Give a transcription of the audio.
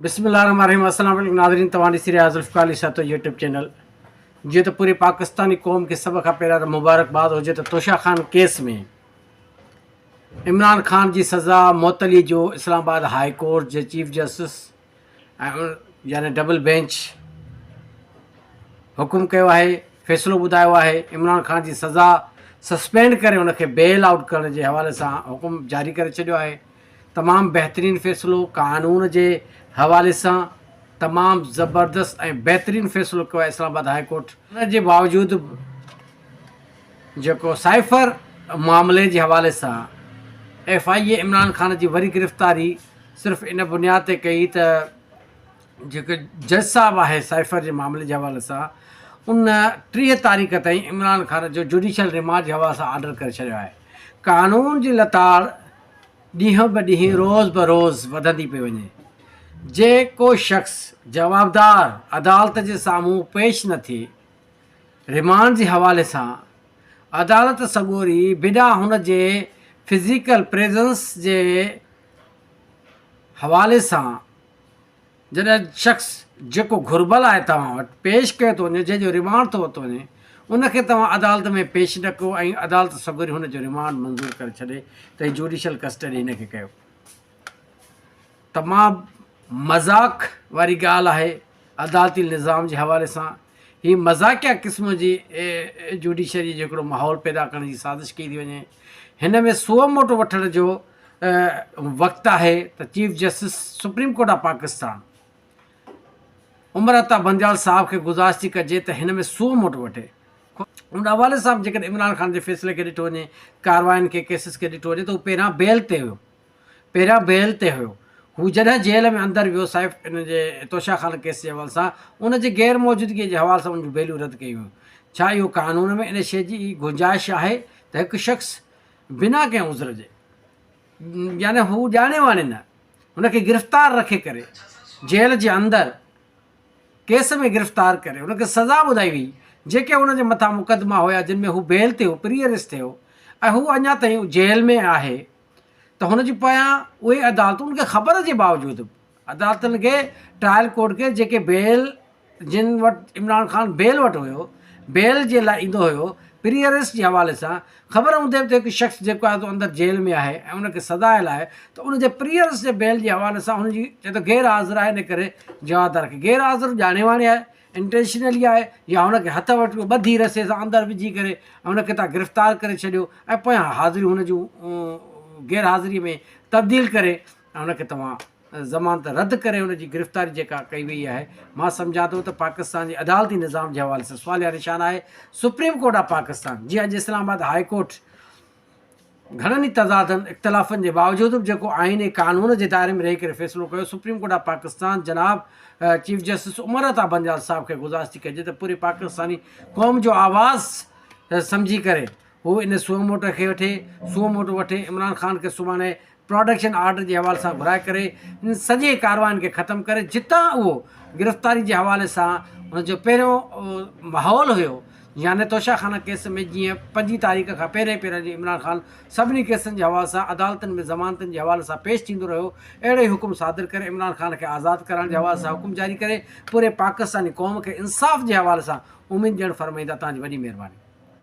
بسم الله الرحمن الرحيم السلام عليڪم ناظرين توهان ڏسي رهيا ذوالفقار علي شاهه تو يوٽيوب چينل جيئن ته پوري پاڪستاني قوم کي سڀ کان پهريان ته مبارڪباد هجي ته توشا خان ڪيس ۾ عمران خان جي سزا معطلي جو اسلام آباد هاء ڪورٽ جي چيف جسٽس يعني ڊبل بينچ حڪم ڪيو آهي فيصلو ٻڌايو آهي عمران خان جي سزا سسپينڊ ڪري ان کي بيل آؤٽ ڪرڻ جي حوالي سان حڪم جاري ڪري ڇڏيو آهي تمام بهترين فيصلو قانون جي حوالي سان تمام زبردست ۽ بهترين فيصلو ڪيو آهي اسلام آباد هاء ڪورٽ ان جي باوجود به جيڪو سائفر معاملي جي حوالي سان F I A Imran Khan جي وري گرفتاري صرف ان بنياد تي ڪئي ته جيڪو جج صاحب آهي سائفر جي معاملي جي حوالي سان ان ٽيهه تاريخ تائين عمران خان جو جوڊيشل ريمانڊ جي حوالي سان آرڊر ڪري ڇڏيو آهي قانون جي لتاڙ ڏينهن به ڏينهن روز به روز وڌندي پئي وڃي جي ڪو شخص جوابدار عدالت جي سامهون پيش نه ٿئي ريمانڊ جي حوالي سان عدالت سڳوري بنا هن جي فزيڪل پريزنس جي حوالي سان جڏهن شخص جيڪو گهربل آهي توهان وٽ پيش ڪيو ٿو وڃي جنهن جو ريمانڊ ٿو ورتو وڃي ان کي توهان عدالت ۾ پيش نه ڪيو ۽ عدالت سگهوري هن جو ريمانڊ منظور ڪري ڇڏي ته هي جوڊيشل ڪسٽڊي هن کي ڪيو تمام مذاق واري ڳالهه آهي عدالتي نظام جي حوالي سان هي مذاقيه قسم جي جوڊيشريء جو هڪڙو ماحول پيدا ڪرڻ جي سازش ڪئي ٿي وڃي. هن ۾ سوء موٽو وٺڻ جو وقت آهي ته chief justice supreme court of Pakistan Umar Ata Bandial صاحب کي گذارش ٿي ڪجي ته هن ۾ سوء موٽ وٺي. ان حوالي سان به جيڪڏهن عمران خان جي فيصلي کي ڏٺو وڃي، ڪاررواين کي، ڪيسز کي ڏٺو وڃي ته هو پهريان بيل تي هيو. پهريان بيل تي هيو. هو جڏهن جيل ۾ اندر ويو، صائف ان جي توشا خانه ڪيس جي حوالي سان ان جي غير موجودگيء جي حوالي سان ان جون بيلون رد ڪيون ويون. ڇا اهو قانون ۾ ان شيء جي گنجائش آهي ته هڪ شخص بنا ڪنهن عذر جي يعني هو ڄاڻي واڻي نه هن کي گرفتار رکي ڪري جيل جي اندر ڪيس ۾ گرفتار ڪري هن کي سزا ٻڌائي ويئي جيڪي هن جي مٿان مقدما هيا جن ۾ هو بيل تي هو پريئر ريس تي هو ۽ هو اڃا تائين جيل ۾ آهي. ته هن جي پويان اهي عدالتون کي خبر جي باوجود به عدالتن کي ٽرائل ڪورٽ کي جيڪي بيل جن وٽ عمران خان بيل وٽ هيو بيل جي لاء ايندو هيو پري اريسٽ جي حوالي سان خبر هوندي به ته هڪ شخص جيڪو آهي سو اندر جيل ۾ آهي ۽ ان کي سزا آيل آهي ته ان جي پري اريسٽ جي بيل جي حوالي سان هن جي چئي ٿو غير حاضر آهي ان ڪري جوابدار کي غير حاضر ڄاڻي واڻي آهي انٽينشنلي آهي يا هن کي هٿ وٺي ٻڌي رسي سان اندر وجهي ڪري هن کي تان گرفتار ڪري ڇڏيو ۽ پويان حاضريون هن جون غير حاضري ۾ تبديل ڪري هن کي توهان ضمانت رد ڪري هن جي گرفتاري جيڪا ڪئي وئي آهي مان سمجهان ٿو ته پاڪستان جي عدالتي نظام جي حوالي سان سواليا نشان آهي سپريم ڪورٽ آف پاڪستان جي اڄ اسلام آباد هاء ڪورٽ گهڻن ئي تضادن، اختلافن جي باوجود به جيڪو آئين ۽ قانون جي دائري ۾ رهي ڪري فيصلو ڪيو، سپريم ڪورٽ آف پاڪستان جناب چيف جسٽس عمر عطا بنجال صاحب کي گذارش ٿي ڪجي ته پوري پاڪستاني قوم جو آواز سمجهي ڪري هو ان سوئو موٽ کي وٺي سوئو موٽ وٺي عمران خان کي سڀاڻي پراڊڪشن آرڊر جي حوالي سان گهرائي ڪري ان سڄي ڪارواين کي ختم ڪري جتان اهو گرفتاري جي حوالي سان ان جو پهريون ماحول هيو يعني توشه خانه ڪيس ۾ جيئن پنجين تاريخ کان پهرين پهرين جي عمران خان سڀني ڪيسن جي حوالي سان عدالتن ۾ ضمانتن جي حوالي سان پيش ٿيندو رهيو اهڙو ئي حڪم صادر ڪري عمران خان کي آزاد ڪرائڻ جي حوالي سان حڪم جاري ڪري پوري پاڪستاني قوم کي انصاف جي حوالي سان اميد ڄڻ فرمائيندا تان جي وڏي مهرباني